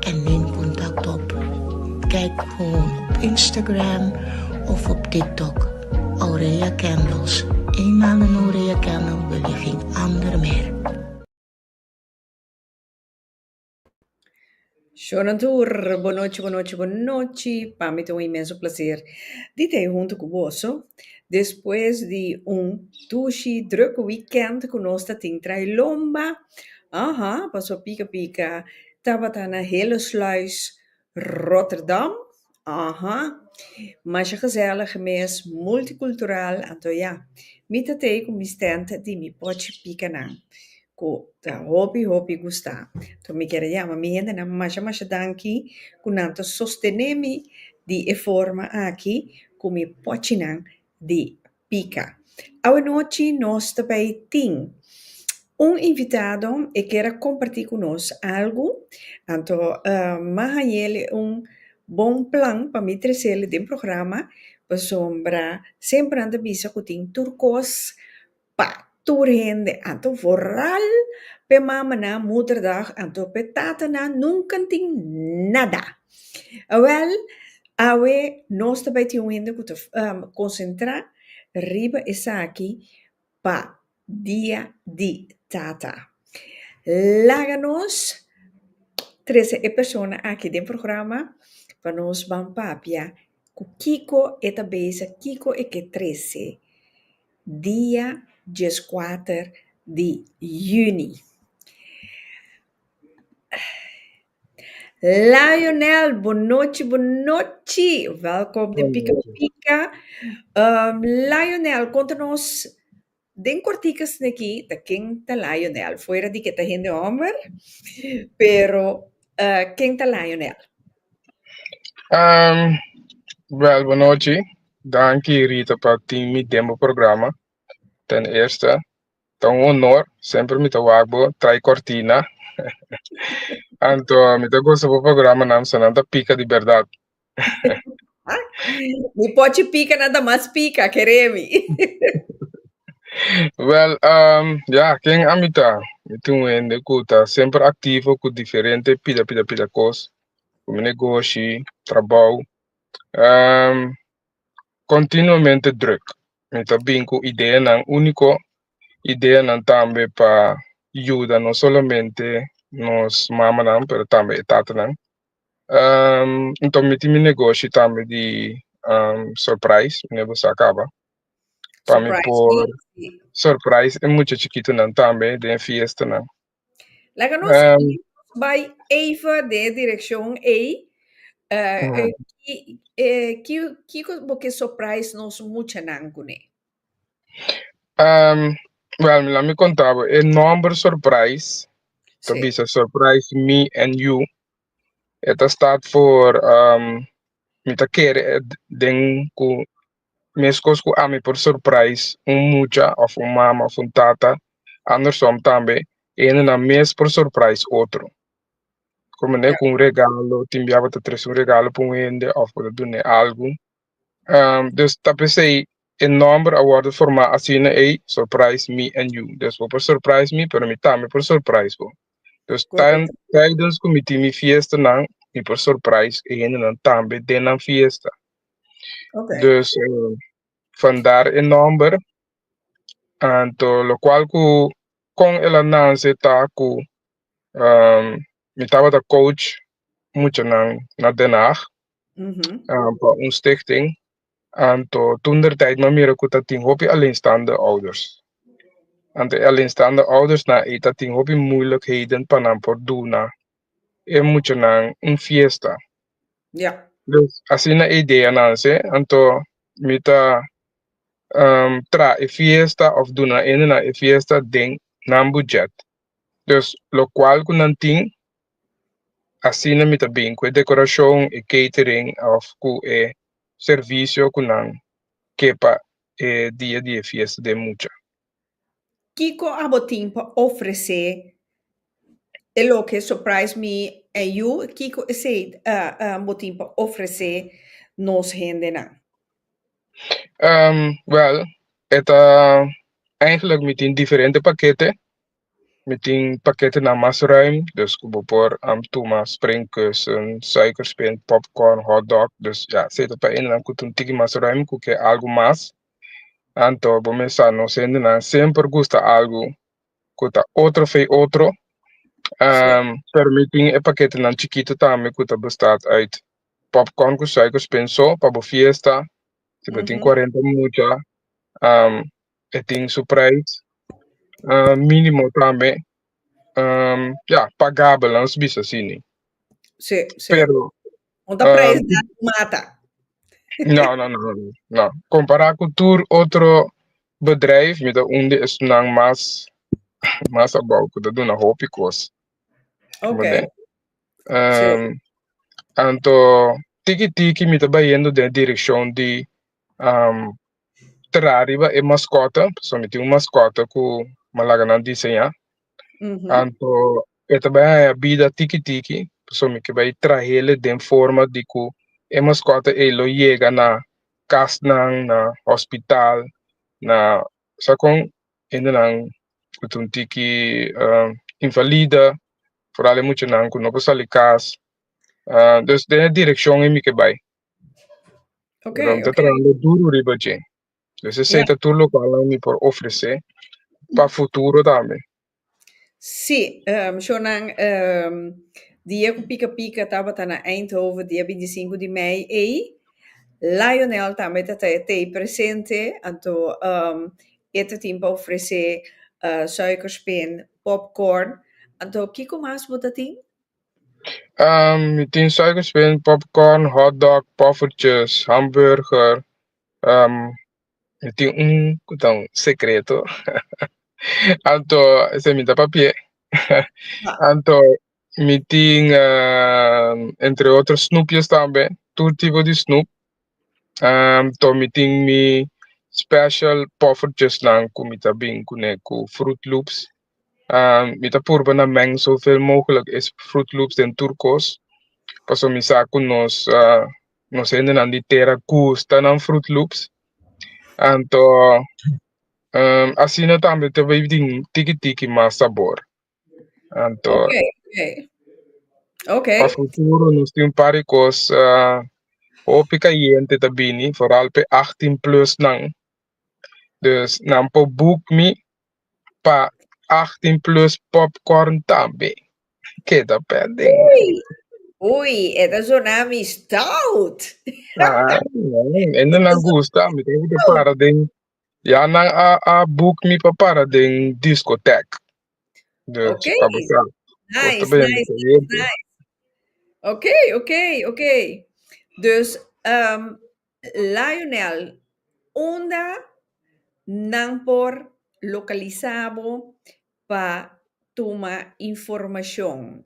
en nen kontakto op Kijk Gewoon op Instagram of op TikTok Aurelia Candles Eén maal na no Aurelia Candle wil je geen ander meer. Shono tur, Bo nochi, bo nochi, bo nochi. Pa mi ta un inmenso placer di ta ei hunto cu boso despues di un tushi druk weekend cu nos ta tin trailomba. Aha, paso pica pica Tabata na Hillesluis, Rotterdam, aha, masha gezellig mes, multicultural, anto ya, mi ta tei cu mi stente di mi pochi picanan, cu ta hopi hopi gusta, anto mi kier a yama mi hendenan masha masha danki cu nan ta sostene mi di e forma aki cu mi pochinan di Pica. Awanochi nos ta bay tin un invitado e kier a comparti cu nos algo anto mas hañel e un bon plan pa mi trecel den programa pasobra semper nan ta bisa cu tin tur cos pa. Tur hende a ta vooral p'e mamanan Moederdag en tur p'e tatanan nunca tin nada. Awel, awe nos ta bay tin un hende cu ta concentra riba esaki pa Dia di Tata. Laga nos trece e persona aki den programa pa nos ban papia cu kico e ta bezig, kico e ke trece Dia dieskuater di yüni. Lionel, bonochi, bonochi! Wèlkom den Pika Pika. Lionel, konta nos den kortiku sneki ta ken ta Lionel, fuera di ke ta hende hòmber, pero ken ta Lionel? Bèl bonochi. Danki Rita pa tin mi den bo programa. Ten eerste ta un honor, semper mi ta wak bo trai cortina. Anto mi ta gosa bo programanan, so nan ta pika di berdad. Mi pochi pika nan ta mas pika, ke Remi. Wel, um, ya, ken ami ta? Mi tin un hende ku ta semper aktivo ku diferente pida pida pida kos, ku mi negoshi, trabou, Ehm, continuamente druk. Mi ta bin cu ideanan único, ideanan tambe pa yuda no solamente nos mamanan, pero tambe e tatanan. Ehm, enton mi tin mi negoshi tambe di ehm, surprise, mi nebo sa caba. Pa mi Surprise, por sí. surprise e mucha chikitonan tambe den fiestanan. Laga nos Ehm. bai eva den e direccion ey, eh, Ujú. eh, ki, eh, ki, kiko bo ke surprise nos muchanan cune? Ehm, wel, laat me conta bo. E nomber surprise, ta Sí. bisa surprise me and you. E ta staat voor, ehm, mi ta kere e d- den cu Meskos ku ami por surprais un mucha òf un mama òf un tata, andersom tambe e hendenan mes por surprais otro. Ku manera ku un regalo, tin bia bo ta trese un regalo pa un hende òf bo ta dun'é algu. Um, dus ta p'esei e nòmber a wòrdu formá asina ei, Surprise Me and You. Dus bo por surprais mi, pero mi tambe por surprais bo. Dus tan, taidens ku mi tin mi fiestanan, mi por surprais e hendenan tambe den nan fiesta. Okay. Dus eh, van daar e nomber. Anto lo cual cu con el a nance ta cu um, mi tabata coach muchanan na Den Haag Mhm. um, pa un stichting. Anto toen der tijd ma mira cu ta tin hopi alleenstaande ouders. Anto e alleenstaande ouders na e ta tin hopi moeilijkheden pa nan por duna e muchanan un fiesta. Ya. Pues asina ideanan se, anto mi ta um traha e fiesta of duna hendenan e fiesta den nan bujet. Dus locual cu nan tin asina mi ta bin cu e decoracion, e catering of cu e servicio cu nan ke pa e dia di e fiesta den mucha. Kiko a bo tin pa ofresé e loke Surprise Me and You? Kiko esei bo tin pa ofresé nos hendenan? Bèl, e ta, eigenlijk mi tin diferente pakete. Mi tin paketenan mas ruim, dus ku bo por am tuma spring kusen, suikerspin, popcorn, hotdog. Dus ya, si ta pa hendenan ku ta un tiki mas ruim ku ke algu mas. Anto bo mes sa nos hendenan semper gusta algu ku ta otro fei otro. Um, pero mi tin e paketenan chikitu tambe ku ta bestat uit popcorn ku suikerspin so pa bo fiesta. Si bo tin cuarenta mucha, um, e tin su prijs minimo tambe ya pagabel nos bisa asini pero no no no compara cu tur otro bedrijf mi ta un di esnan mas mas abao cu ta duna hopi cos anto tiki tiki mi ta bayendo den direccion di tra riba e mascota, pasobra mi tin un mascota cu malaganan diseña, anto e ta bai haya bida tiki tiki, pasobra mi ke bai trahele den forma di cu e mascota ei lo yega na casnan, na hospital, na sa con hendenan cu ta un tiki invalida, foral e muchanan cu no por sali cas, dus den e direccion ei mi ke bai. Ok, Pero mi ta ok. trabajando duro riba dje. Dus esey Ya. ta tur lokalnan mi por ofresé pa futuro tambe. Sí, ehm, shownan ehm, di e ku pika pika tabata na Eindhoven dia binti sinku di mei ei. Lionel tambe ta trae tee presente, anto ehm, e ta tin pa ofresé eh suikerspin, popcorn. Anto kiko mas bo ta tin? Um, mi tin suiker spin, popcorn, hot dog, poffertjes, hamburger. Um, mi tin un cu ta un secreto. Anto, ese mi ta papia. Anto, mi tin, um, entre otros, snoepjes tambe. Tur tipo di snoep. Um, to mi tin mi special poffertjes nan cu mi ta bin cune cu fruit loops. Mi ta purba na meng zoveel mogelijk es Fruit Loops den tur kos, paso mi sa ku nos nos hendenan di tera gusta nan Fruit Loops. Anto asina tambe ta bay tin tiki tiki mas sabor. Anto Okay, okay. Okay. pa futuro nos tin un par di kos ah, hopi kayente ta bini, vooral pe 18 plus nan. Dus nan por boek mi pa achtin plus popcorn tambe. Keda pending. Ui, ui, e ta sona mi stout. Ah, en no na gusta, mi tengo que para den. Ya nan a, a book mi pa para den discotheque. Dus, Okay. pa besar. Nice, Osta ben, nice, nice, nice. Oké, oké, oké. Dus, ehm, Lionel, Unda nan por lokalisa bo pa tuma informashon?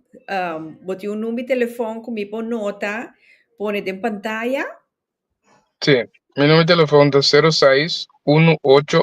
Bo tin un number telefòn ku mi por nota pone den pantaya? Sí, mi number telefòn ta sero seis unu ocho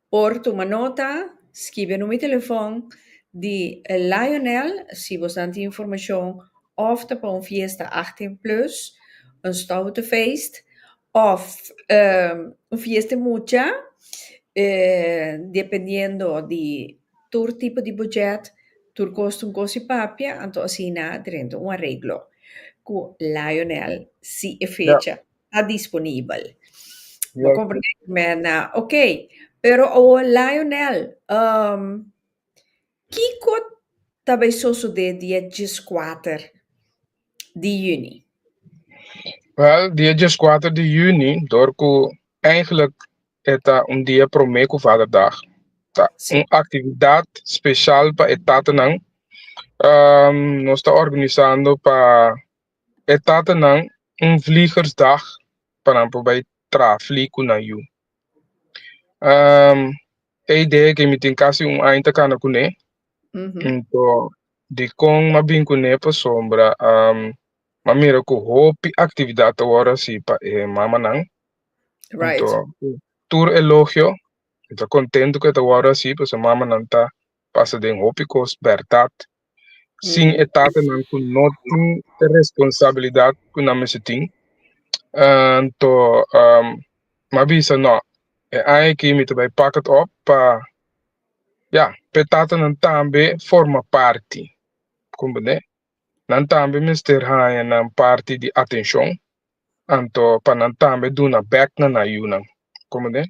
Por tuma nota, skibi e numi telefòn di Lionel si bo sa tin informashon òf ta pa un fiesta achttien plus, un stoute feest òf un fiesta di mucha, dependiendo di tur tipo di buchèt, tur koste un kos di papia, anto asina drenta un areglo ku Lionel si e fecha. ta disponibel. Bo comprende cu Merna? Ok, pero awor Lionel, um, kico ta bay sosode di e djeskuater di juni? Wel, di e djeskuater di juni, door cu eigenlijk e ta un dia prome cu vaderdag, ta Sí. un actividad special pa e tatanan. Um, nos ta organisando pa E tatanan un vliegersdag pa nan por bai traha flie ku nan yu. Ehm, e idee ke mi tin kasi un aña ta kana kuné, Ujú. nto di kon ma bin kuné pasobra ehm, ma mira ku hopi aktividat ta wòrdu hasi pa e mamanan. Right. Nto tur elogio, mi ta kontentu ku e ta wòrdu hasi pasobra mamanan ta pasa den hopi kos bèrdat sin e tatanan ku no tin e responsabilidat ku nan mester tin. Anto m'a bisa, no, e aña aki mi ta bai pak it op pa ya, pa e tatanan tambe forma parti, comprende? Nan tambe mester haña nan parti di atenshon. anto pa nan tambe duna bek na nan yunan. Komo den?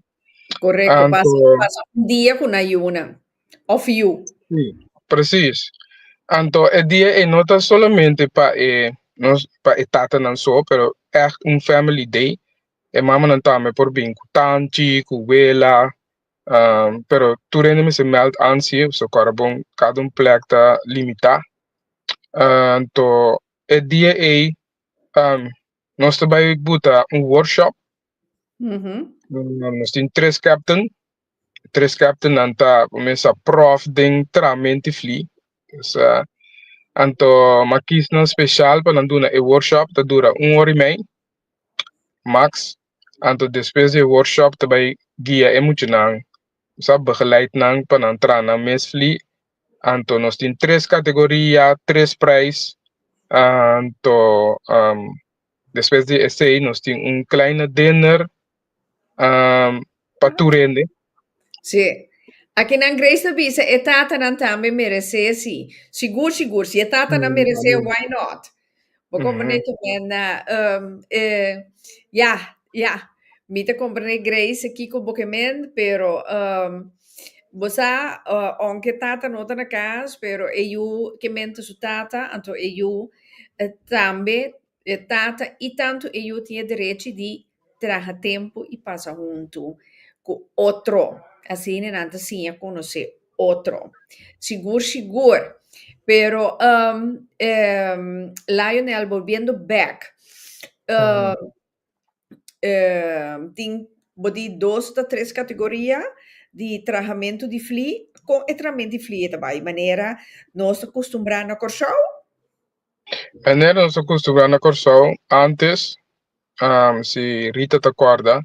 Korekto, Anto- pasa, pasa un dia ku nan yunan òf yu. Sí, presis. Anto e dia ei no ta solamente pa e nos pa e tatanan so, pero ègt un family day. E mamanan tambe por bin ku tanchi, ku wela, um, pero tur hende mester mèld ansi, so kòrda bon kada un plek ta limitá. Ah, Anto e dia ei Um, nos ta bai buta un workshop. Mhm. Um, nos tin tres captain. Tres captain nan ta comienza prof den tramenti fli. Dus, uh, anto makis nan special pa nan duna e workshop ta dura un hora y mei. Max. Anto despues di e workshop ta bai guia e muchanan. Nos a begeleid nan pa nan traha nan mes fli. Anto nos tin tres categoria, tres prijs. Anto despues di esey nos tin un kleine dinner. pa tur hende. Sí. Akinan Grace ta bisa e tatanan tambe meresé sí. Sigur sigur, si e tatanan meresé, why not? Bo komprendé tu menda? Um, e, ya, ya. Mi ta komprendé Grace kiko bo ke mend, pero, um, bo sa, uh, aunke e tata no ta na kas, pero e yu ke mend ta su tata, anto e yu tambe E tata i tantu e yu tin e derechi di traha tempu i pasa huntu ku otro. Asina nan ta siña konosé otro. Sigur sigur. Pero um um Lionel bolbiendo bek um um tin bo di dos ta tres kategoria di trahamentu di flí. Kon e trahamento di flí ta bai? Manera nos ta kustumbrá na Kòrsou? Enero nos a costumbrá na Kòrsou antes am, si Rita ta kòrda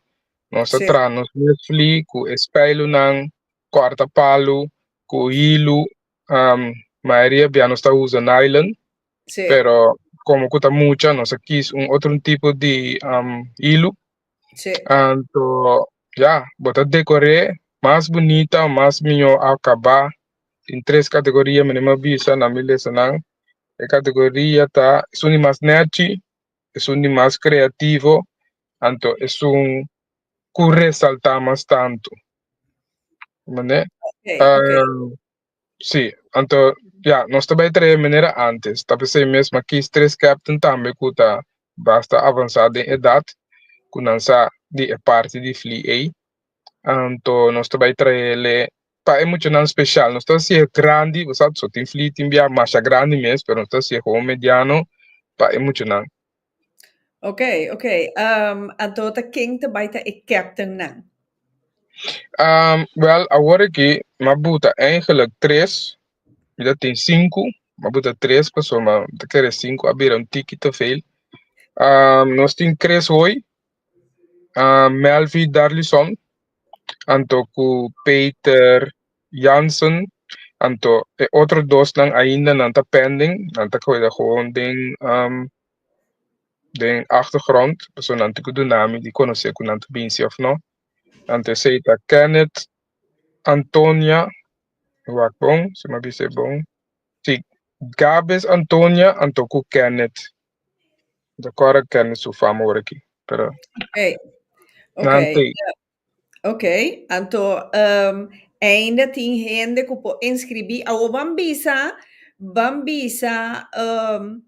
nos a Sí. traha nos mes fli ku e speilunan kòrta palu ku hilu am mayoria bia nos ta usa nylon Sí. pero komo ku ta mucha nos a kis un otro tipo di am hilu Sí. anto ya bo ta dekor'é mas bunita o mas mió akabá Tin tres kategoria mi nimer bisa na mi lesonan. E kategoria ta esun di mas nèchi, esun di mas kreativo, anto esun ku resaltá mas tantu. Mane? Okay, uh, okay. Ah, sí, anto ya, nos ta bai trae manera antes. Ta pensei mesmo aqui tres captain tambe ku ta basta avanzado den edad, ku nan sa di e parte di fli ei. Anto nos ta bai trae lei pa e muchanan special nos ta haci e grandi bo sa so tin fli tin bia masha grandi mes pero nos ta haci e hogo mediano pa e muchanan. Ok ok um anto ta ken ta bai ta e captain nan? Um wel awor aki ma buta eigenlijk tres mi ta tin sinku ma buta tres paso ma mi ta kere sinku a bira un tiki te veel um nos tin tres hoy Ah, Melvi Darlison, anto ku Peter Jansen, anto e otro dosnan ainda nan ta pending, nan ta keda gewoon den den achtergrond, pasobra nan tin ku duna mi di konosé ku nan ta binse òf no. Anto esei ta Kenneth Antonia, mi wak bon si mi a bisa e bon, si, Gabes Antonia anto ku Kenneth. Yo corre Kenny su fama ora aquí, pero okay. Okay. Ok, anto um, ainda tin hende ku po inscribí. Awo van bisa, van bisa um,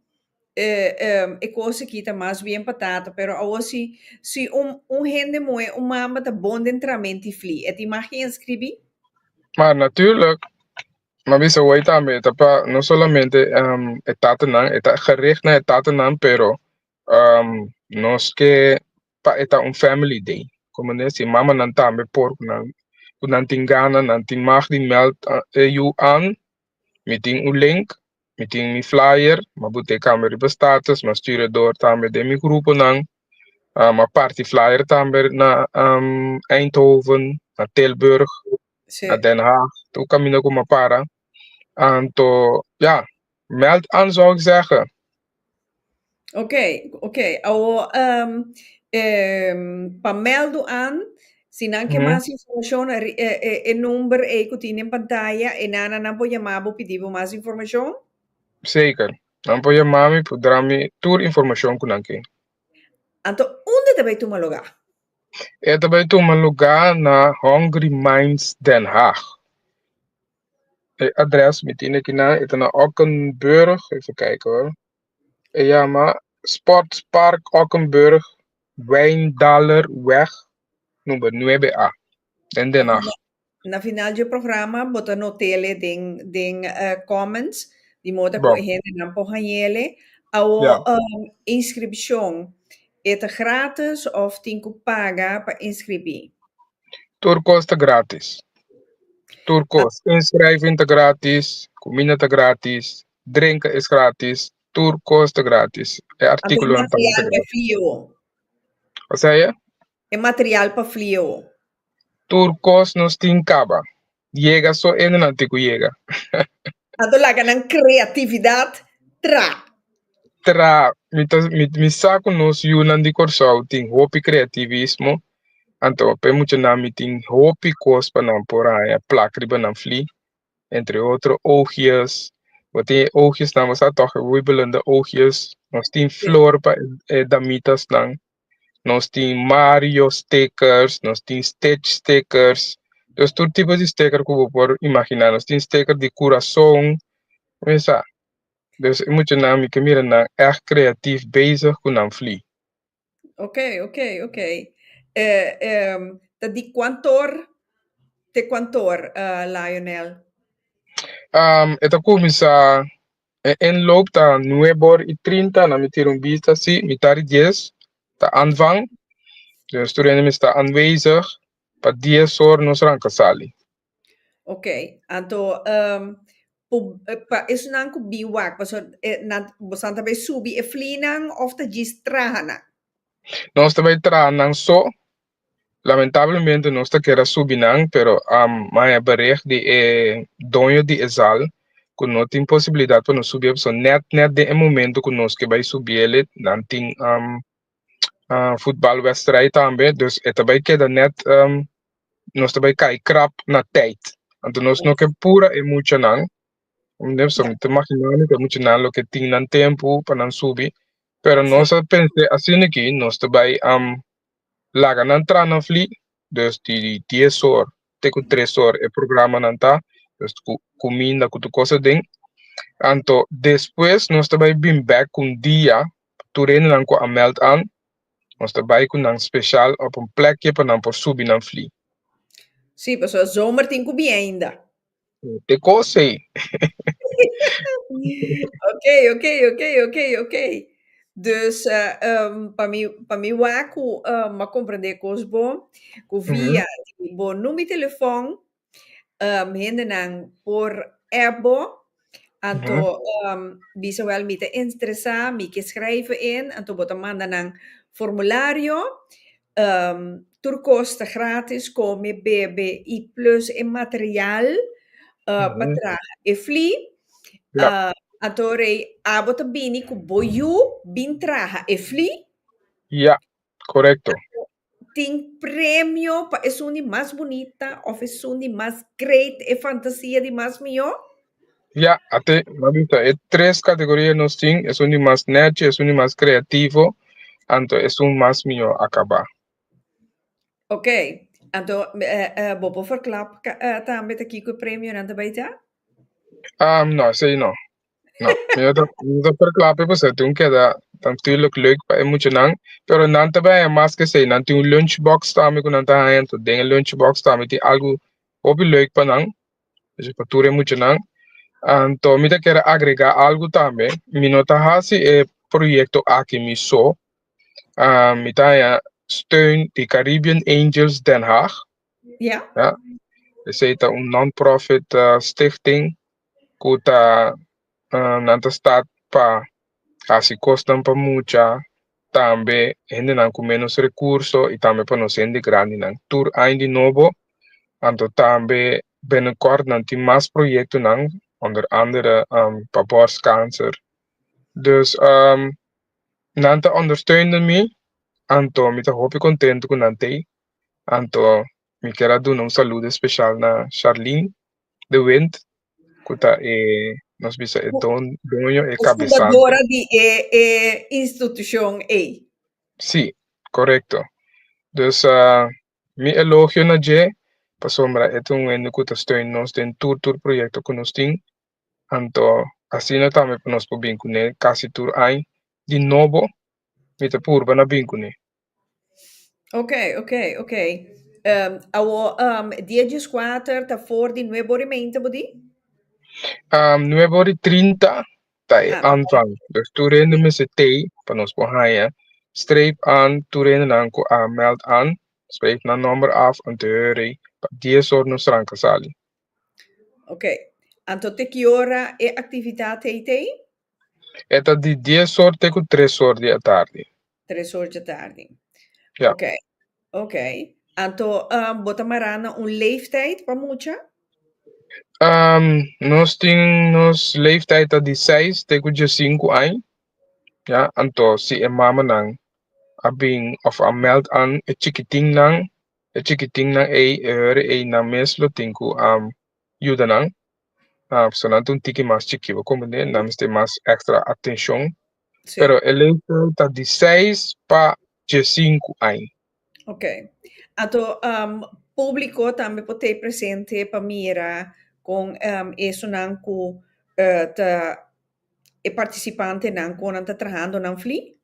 eh, um, e cosa kita mas bien patata, pero awo si, si un, un hende moe, un mamba ta bon den tramenti fli, e tin mag inscribí? Maar natuurlijk, Mami bisa wei tambe e ta pa no solamente um, e tatanan, e ta gericht na e tatanan, pero um, nos ke pa e ta un family day. Como ne si mamanan tambe por ku nan ku nan tin gana, nan tin mag di mèld uh, e yu an mi tin un link Mi tin mi flyer, ma bo te cambia riba status, ma sturia door tambe den mi gruponan, ma parti flyer tambe na Eindhoven, na Tilburg, na Den Haag, tur caminda cu ma para. Anto, ja, meld aan zou ik zeggen. Ok, ok, awor ehm ehm pa mèldu an, si nan ke mas informashon e e e number ei ku tin den pantaya e nana nan por yama bo pidi bo mas informashon? Seker, nan por yama mi por dra mi tur informashon ku nan ke. Anto unda ta bai tuma lugá? E ta bai tuma lugá na Hungry Minds Den Haag. E adres mi tin aki nan e ta na ockenburg even kijken hoor e yama sportspark ockenburg wijndalerweg number nuebe a den den haag Na final dje programa bo ta notele den den comments di moda ku e hendenan por hañele awor inscripcion e ta gratis of tin ku paga pa inscribi. Tur kos ta grátis. Tur kos. Inskriving ta grátis, kuminda ta grátis, drenka es grátis, tur kos ta grátis. E Anto e artíkulonan tabata material pa grátis. flio. Kusai e? E material pa flio. Tur kos nos tin kaba. Yega so ende nan tin ku yega. A ta laga nan kreatividat tra. Tra. Mi ta mi sa ku nos yunan di Kòrsou tin hopi kreativismo, anto p'e muchanan mi tin hopi kos pa nan por haña plak riba nan flí. Entre otro oogjes, bo tin e oogjesnan bo sa tòg e wibelinda oogjes. Nos tin flor pa e damitasnan. nos tin Mario stickers, nos tin Stitch stickers, nos tur tipo di sticker ku bo por imaginá, nos tin sticker di kurason, mesa. Dus e muchanan mi ke mira nan èg kreatif bezig ku nan flí. Okay, okay, okay. E e ta di kuantu or te kuantu or, Lionel? Um e ta kuminsá E enlop ta nuebe or y trinta na mi tira un bista si mi ta di dies ta an van den e studiante mi sta anwezig pa dies or nos ranca sali. Ok anto po pa esunnan cu bin wak paso nan bosan ta bay subi e flinan of ta djis traha nan? Nos ta bay traha nan so Lamentablemente nos ta keda subi nan pero am maya bereg di e doño di e zal cu no tin posibilidad pa nos subi ep so net net den e momento cu nos ke bay subi ele nan tin am ah futbal westrij tambe dus e ta bay keda net am nos ta bay cay crap na tijd anto nos no ke pura e mucha nan mende so mi ta imagina mi cu e mucha nan loke tin nan tempo pa nan subi pero nos a pense asina aki nos ta bay am laga nan tra nan fli dus di dies or te ku tres or e programanan ta dus ku kuminda ku tur kos aden anto despues nos ta bai bin bek ku un dia pa tur rendenan ku a mèld al nos ta bai ku nan spesial op un plekje pa nan por subi nan fli. Sí, pasobra zomer tin ku bien ainda. Te cose. ok, ok, ok, ok, ok. Dus uh, um, pa mi, pa mi wak ku uh, ma comprende kos bon, ku via mm -hmm. bo nu mi telefon, um, hende nan por app bo, anto mm -hmm. um, bisa wel mi te interesá, mi ke schrijven in, anto bo ta manda nan formulario, Tur kos ta grátis, kome, bebe i plus e material pa traha e flí. Anto rei, abo ta bini ku bo yu bin traha e flí? Ya, korekto. Tin premio pa esun di mas bunita òf esun di mas great, e fantasia di mas mihó? Ya, a te lo a bisa e tres kategoria nos tin esun di mas nèchi, esun di mas kreativo, anto esun mas mihó a kabá. Oké, anto eh, eh, bo por forkla ka- eh, tambe ta kiko e premionan ta bai ta? Ehm, no, esei no. No, mi no ta, mi no ta verklap e paso, tin keda natuurlijk leuk pa e muchanan, pero nan ta bai mas ke esei, nan tin un lunchbox tambe ku nan ta haña, anto den e lunchbox tambe tin algu hopi leuk pa nan, Esei pa tur e muchanan. Anto mi ta kere agrega algu tambe, mi no ta hasi e proyekto aki mi so, mi ta haña steun di Caribbean Angels Den Haag, Ya. ya, esei ta un non-profit stichting ku ta nan ta stat pa hasi kosnan pa mucha, tambe hendenan ku ménos rekurso i tambe pa nos hende grandinan. Tur aña di nobo, anto tambe bènekòrt nan tin mas proyektonan, onder andere pa bòrskánser. Dus nan ta ondersteunde mi, anto mi ta hopi kontentu ku nan t'ei. Anto mi kier a duna un salud espeshal na Sharlene de Wint, Cu ta e, nos bisa e don, doño, e cabesante. Fundadora di e, e institucion ey. Sí, correcto. Dus ah, mi elogio na dje, pasobra e ta un hende cu ta steun nos den tur tur proyecto cu nos tin. Anto, asina tambe pa nos por bin cune casi tur aña. Di nobo, mi ta purba na bin cune. Ok, ok, ok. Ehm, awo, ehm, dies djis kuater ta for di nueve ora y meinte, bo di? Um, nueve ora y trinta ta e Ah, aanvang. Dus tur rende Oké. mester tei pa nos por haya. Streep aan tur rende nan ku a meld aan. Schrijf na nomber af om te hören pa dies or nos tranca sali. Ok. Anto te ki ora e actividad tei tei? E ta di dies or te ku tres or di atardi. Tres or dje tardi. Ja. Ok, ok. Anto um, bo ta mará na un leeftijd pa mucha? Um, nos tin nos leeftijd ta di seis te ku djesinku añ. Ja, anto si e mamanan a bin of a mèld an e chikitinnan, e chikitinnan ei, e hurry ei nan mes lo tin ku um yuda nan. Um, pasobra nan ta un tiki mas chikiba, komo nan mester mas èkstra atenshon Sí. Pero el leeftijd ta di 6 pa 15 aña. Ok. Ato um, público también por te presente para mira con um, esonan cu uh, ta e participante nan con nan ta trabajando nan fli.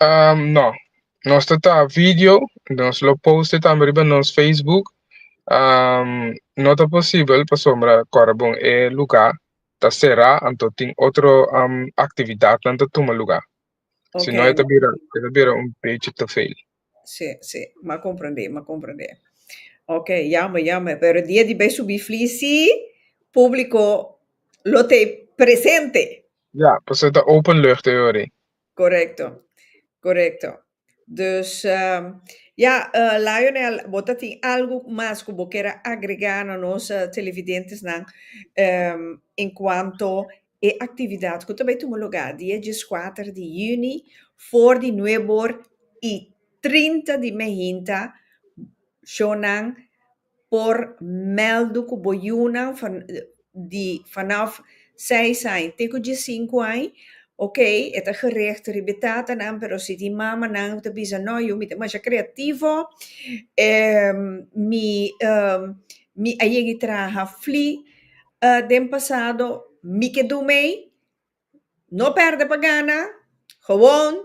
Um, no, nos ta ta video, nos lo poste también riba nos Facebook. Um, no ta posible pa sombra Corabon e lugar, ta será anto tin otro actividad nan ta tuma lugar si no e ta bira e ta bira un bechi te veel. Sí, sí, m'a comprendé, m'a comprendé. Ok, jammer, jammer, pero dia di bay subi fli sí, publico lo t'e presente. Ja, paso e ta openlucht e ora ei. Correcto, correcto. Dus, ya, Lionel, bo ta tin algu mas ku bo kere agregá na nos televidentesnan en kuanto e aktividat ku ta bai tuma lugá di e dieskuater di yüni for di Nuebor i trinta di Mehinta, shownan por mèldu ku bo yunan fa di fanòf seis aña te ku diesinku aña, okay e ta gerechto riba e tatanan pero si di mamanan hu ta bisa nò yu mi ta masha kreativo e mi mi a yegi traha fli den pasado mi ke dùmei. No perde pa gana, gewoon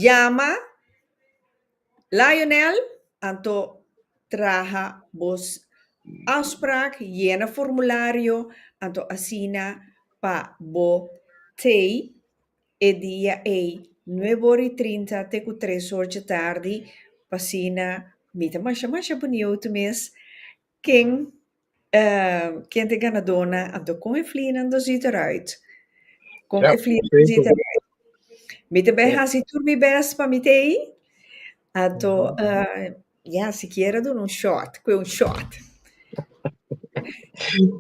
yama Lionel anto traha bos afspraak, yena formulario anto asina pa bo tei e dia ei nuebe ora i trinta te ku tres ora dje tardi, pa asina mi ta masha masha boniu tu mes Ken ken ta e ganadona anto kon e flinan do ziet eruit kon e flinan do ziet eruit mi ta beh hasi tur mi best pa mi ta ei anto ya sikiera duna un shot kue un shot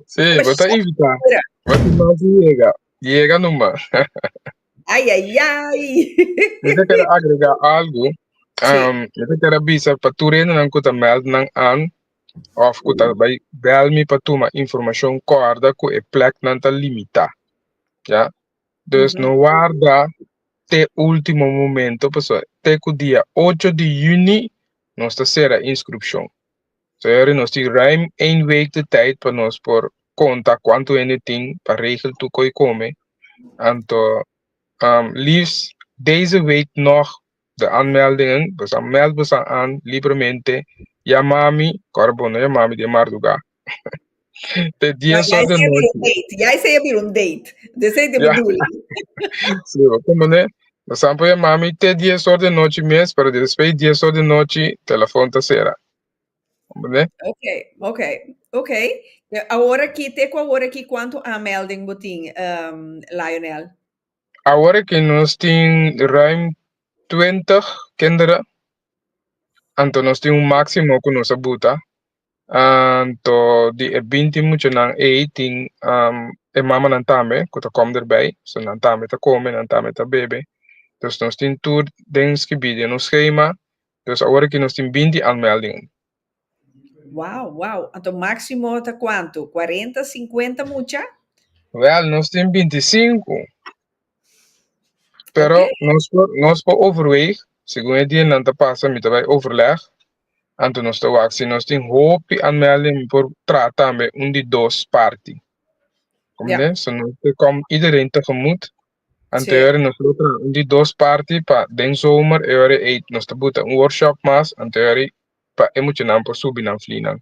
si bo ta invita bo ta mas yega yega numa. Ay, ay, ay. Yo ta kere agrega algu. Um, yo ta kere bisa pa tur hendenan ku ta meld nan an of ku ta bai bel mi pa tuma informashon kòrda ku e pleknan ta limitá. Ya. Dus no warda te último momento pasobra te ku dia ocho di yüni nos ta sera inskrupshon. So e ora nos tin ruim ein week di tyd pa nos por konta kuantu hende tin pa regel tur koi kome. Anto um liefs deze week nog de aanmeldingen. Bosa meld bosa aan libremente. Ya mami, kor bo no ya mami den mardugá. Te dies ora de nochi. Jij zei je een date. Dus zei de bedoeling. Si, bo komo ne? Bosa po ya mami te dies ora de nochi mes, pero despues dies ora de nochi telefon ta sera. Oké, oké, oké. Awor aki, te ku awor aki kuantu aanmelding bo tin, Lionel? Awor aki nos tin ruim twintig kinderen, anto nos tin un máksimo ku nos a buta. Anto di e binti muchanan ei tin e mamanan tambe ku ta kom derbei, so nan tambe ta kome, nan tambe ta bebe. Nos tin tur den skibí den nos skema Entonces ahora aquí nos tin binti aanmeldingen. Wow, wow. Anto maximo ta cuanto? 40, 50 mucha? Wel, nos tin 25. Pero okay. nos, por, nos por overweeg, según het dien nanta pasa, mi tabij overleg. Anto nos te wak, si nos tin hopi aanmelding, por trata tambe un di dos party. Kom yeah. So nos te kom iedereen tegemoet. Anterior nos lo tra un di dos parti pa den zomer e ora ei nos ta buta un workshop mas anterior pa e muchanan por subi nan flinan.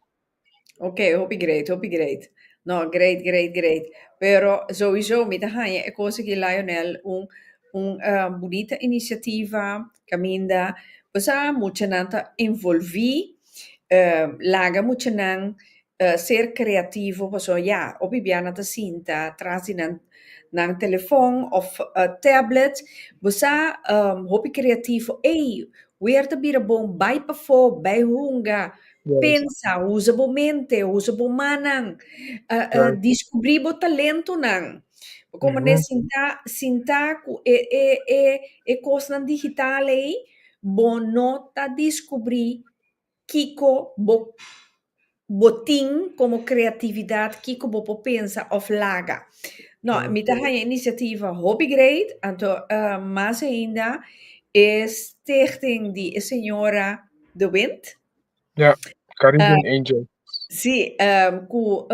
Ok, hopi great, hopi great. No, great, great, great. Pero sowieso mi ta haña e kos aki Lionel un un uh, bunita inisiativa kaminda bo sa muchanan ta envolvi, uh, laga muchanan Ta ser creativo pasobra ya hopi bia nan ta sinta tras di nan nan telefòn of tablet bo sa hopi creativo ey wer ta bira bon bay pafó bay hunga pensa usa bo mente usa bo mannan descubri bo talentonan bo komo ne sinta sinta cu e e e e cosnan digital ey bo no ta descubri Kiko bo bo tin como creatividad kiko bo por pensa of laga no mi ta haya iniciativa hopi great anto mas ainda e stichting di e señora de Wind Ja Caribbean Angels. si cu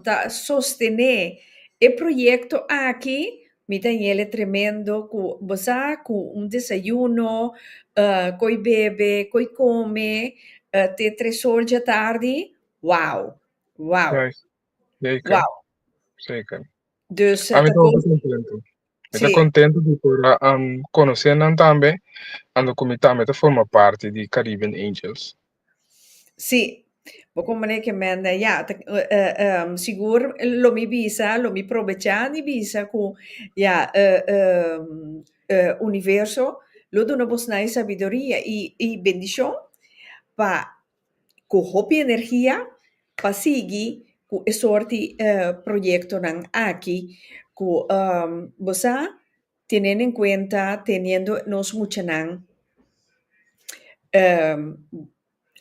ta sostene e proyecto aki Mi ta yele tremendo cu bo sa cu un desayuno, coi bebe, coi come, te tresoor dja tardi, wow! Wow! Wow! Dus ta contento. Mi ta contento di por a conoce nan tambe, ando cu mi tambe ta forma parti di Caribbean Angels. Sí, bo komoné ke mende ya ta sigur lo mi bisa, lo mi probechá di bisa ku ya Universo lo duna bo snai sabiduria i i bendishon pa ku hopi energia pa sigui ku e sorti proyektonan aki ku bo sa Teniendo en cuenta, teniendo nos muchanan um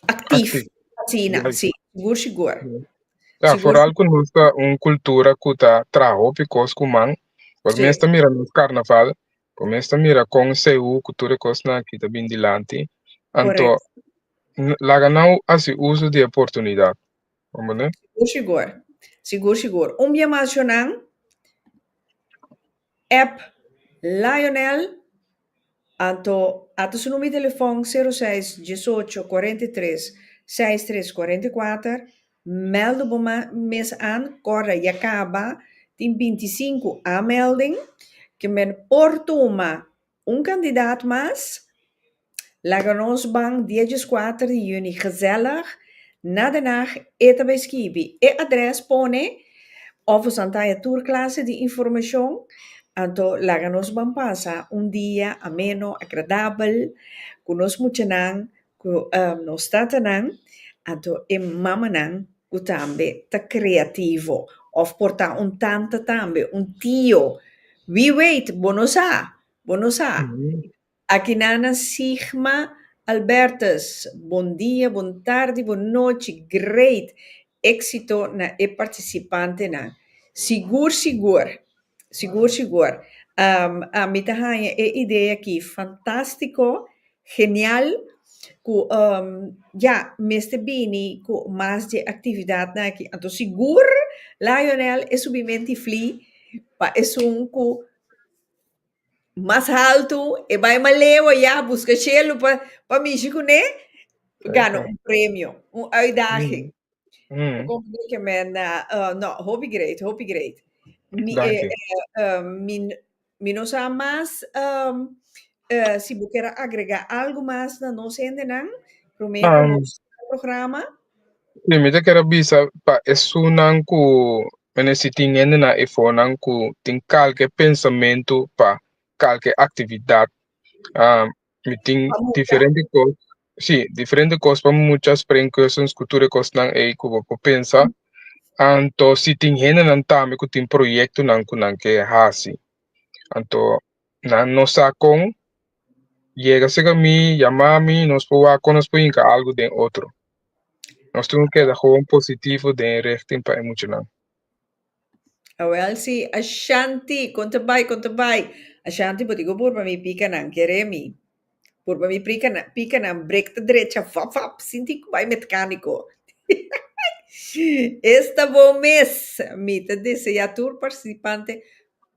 actief Actief, asina, ya. si, sigur, sigur. Ya, Sigur, foral cu nos ta un cultura cu ta traha hopi cos cu man. Por Sí. mes ta mira nos carnaval, por mes ta mira con CU cu tur e cosnan aki ta bin dilanti. Anto, n- laga nan haci uso di e oportunidad. Comprende? sigur, sigur. Sigur, sigur. Un bia mas, Jonan. App Lionel Anto a ta su number di telefon sero seis diesocho cuarenta y tres seis tres cuarenta y cuater mèldu bo ma mes an kòrda ya kaba tin binti sinku aanmelding ke men por tuma Un kandidat mas? Laga nos ban dia djiskuater di yüni gezellig na Den Haag e ta bay skibi. E adres pone of nos a taya tur klase di informashon. Anto laga nos ban pasa un dia ameno, agradabel ku nos muchanan. Ku nos tatanan anto e mamanan ku tambe ta kreativo òf por ta un tanta tambe un tio wie weet bo no sa bo no sa aki nana Sigma Albertus bon dia bon tardi bon nochi great Éxito na e participantenan. Sigur sigur, sigur sigur, ami ta haña e idee aki fantástico, genial, cu ya, mester bini cu mas dje actividadnan aki. Anto sigur, Lionel, e subimenti fli pa esun cu. Mas haltu e bai malewa ya buska shelu pa pa mishi ku ne gana un premio, un uitdaging. Ku kòm ku ke men na no hopi great, hopi great. Mi mi mi no sa mas si bo kera agregá algu mas na nos hendenan promé ku nos programa. Si mi ta kere bisa pa esunnan ku ministra tin hende na e fononan ku tin kalke pensamentu pa kalke aktividat mi tin diferente kos si diferente kos pa mucha spre en kwersons ku tur e kosnan ei ku bo por pensa anto si tin hendenan tambe ku tin proyektonan ku nan ke hasi anto nan no sa kon Yega sega mi, yama mi, nos por wak kon nos por hinka algu den otro. Nos tin ku keda gewoon positivo den e richting pa e muchanan. Awel si, Ashanti, kon ta bai, kon ta bai. Ashanti, bo tin ku purba mi pika nan, kere mi. Purba mi prika nan, pika nan, brek ta drecha, vap, vap, sin tin ku bai metkaniko. Esta bon mes, mi ta desea tur partisipante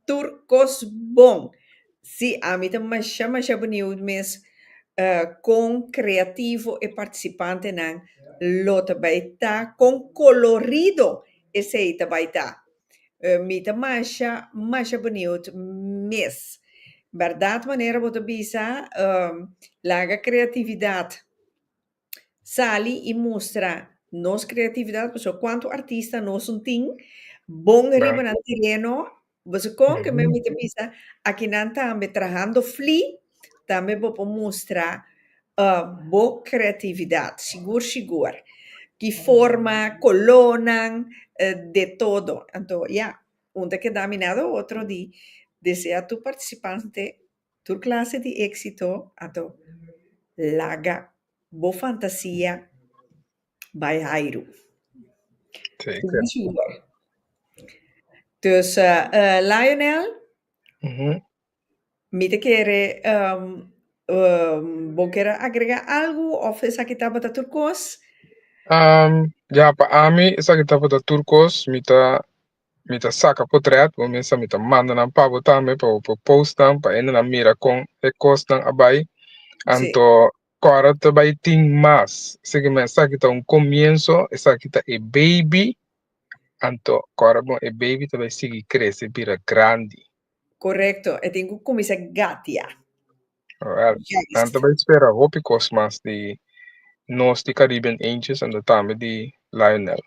tur cos bon. Sí, ami ta masha masha beniud mes con creativo e participantenan lo ta bay ta, con colorido esey ta bay ta. Mi ta masha masha beniud mes. Berdad manera bo ta bisa, laga creatividad. sali i mustra nos kreatividat pasobra kuantu artista nos un tin bon riba nan tereno pasobra kon ke men mi ta bisa aki nan tambe trahando flí tambe bo por mustra bo kreatividat sigur sigur ki forma kolónan de todo anto ya un ta keda minado otro di desea tur partisipante Tur klase di éksito a ta laga bo fantasia bai hairu. Seker. Dus Lionel, mi ta kere bo kier agrega algu of esaki tabata tur kos? Ya, pa ami esaki tabata tur kos. Mi ta Mi ta saca potret bo mesa, mi ta manda nan pa bo tambe pa bo por post nan pa hende nan mira con e cosnan a bay. Anto cora ta bay tin mas, segue mi esaki ta un comienzo, esaki ta e baby, anto cora bon e baby ta bay sigui crece bira grandi. Correcto, e tin cu cuminsa gatia. Alright, Yes. nan ta bay spera hopi cos mas di nos di Caribbean Angels anto tambe di Lionel.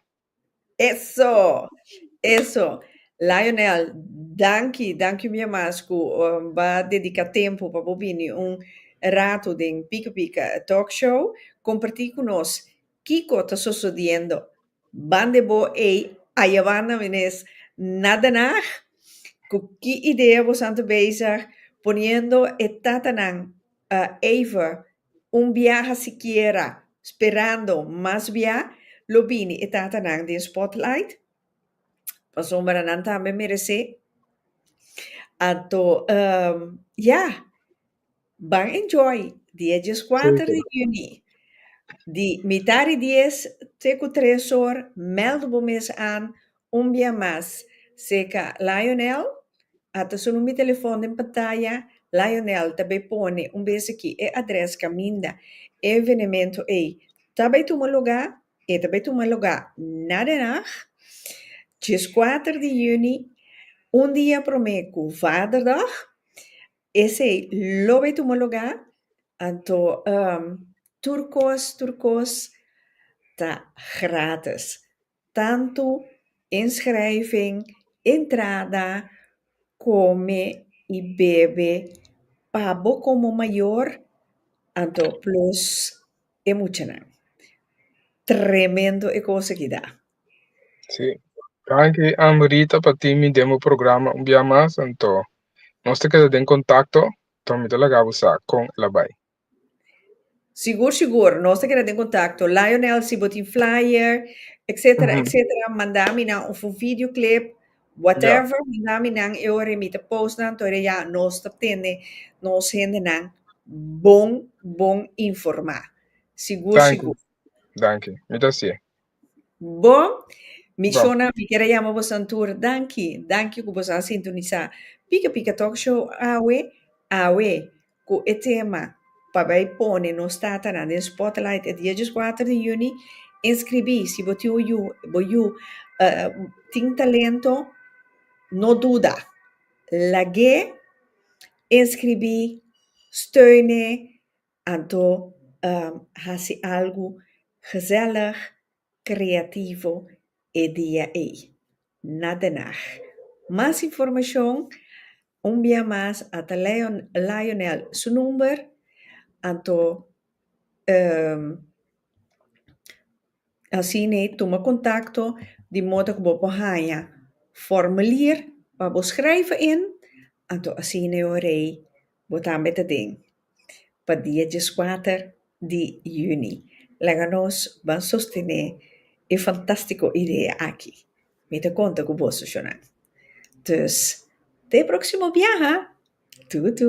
Eso! Eso! Lionel, danki, danki mia mas ku ba dedika tempu pa bo bini un ratu den Pika Pika Talk Show komparti ku nos kiko ta sosodiendo ban de bo ei ayabanda menes na Den Haag. Ku ki idea bosan ta bezig poniendo e tatanan eyfer Un biaha sikiera sperando mas bia lo bini e tatanan den spotlight? Pasobra nan tambe meresé. Anto ehm ya, ban enjoy di e dieskuater di yüni. Di mitá di dies te ku tres or mèld bo mes an Un bia mas, seca Lionel, a ta suna mi telefon den pantaya, Lionel ta bay pone un bes aki e adres caminda e evenemento ey ta bay tuma luga, e ta bay tuma luga na Den Haag, diescuater di juni, un dia prome cu Vaderdag, esey lo bay tuma luga, anto tur cos, tur cos ta gratis. tantu inschrijving, entrada, come y bebe pa bo como mayor anto plus e muchanan. Tremendo e cosa ki da. Sí. Danki Amrita pa tin mi den bo programa un bia mas anto nos ta keda den contacto, to mi ta laga bo sa con el a bay. Sigur sigur nos ta keda den contacto Lionel si bo tin flyer etcetera etcetera manda mi nan of un video clip whatever manda mi nan e ora mi ta post nan tori ya nos ta tende nos hende nan bon bon informa sigur sigur. Bo, mi shownan, mi quiere yama bo san tur danki, danki cu bo sa sintonisa Pika Pika Talk Show awe, awe cu e tema pa bay pone nos tatanan den spotlight e dia dieskuater di juni, inscribi si bo tin un yu, bo yu tin talento no duda lag'e inscribi, steune. Anto hasi algu gezellig, creativo e dia ei. Na den Haag. Mas informacion, un bia mas a ta Lionel su number, anto. Asina e tuma kontakto di moda ku bo por haña formulier pa bo skrèifi in, anto asina e ora ei bo tambe ta den pa dia dieskuater di yüni. Laga nos ban sostené e fantastiko idea aki. Mi ta konta ku bo Sushonan. Dus, te e próksimo biaha! Tutu!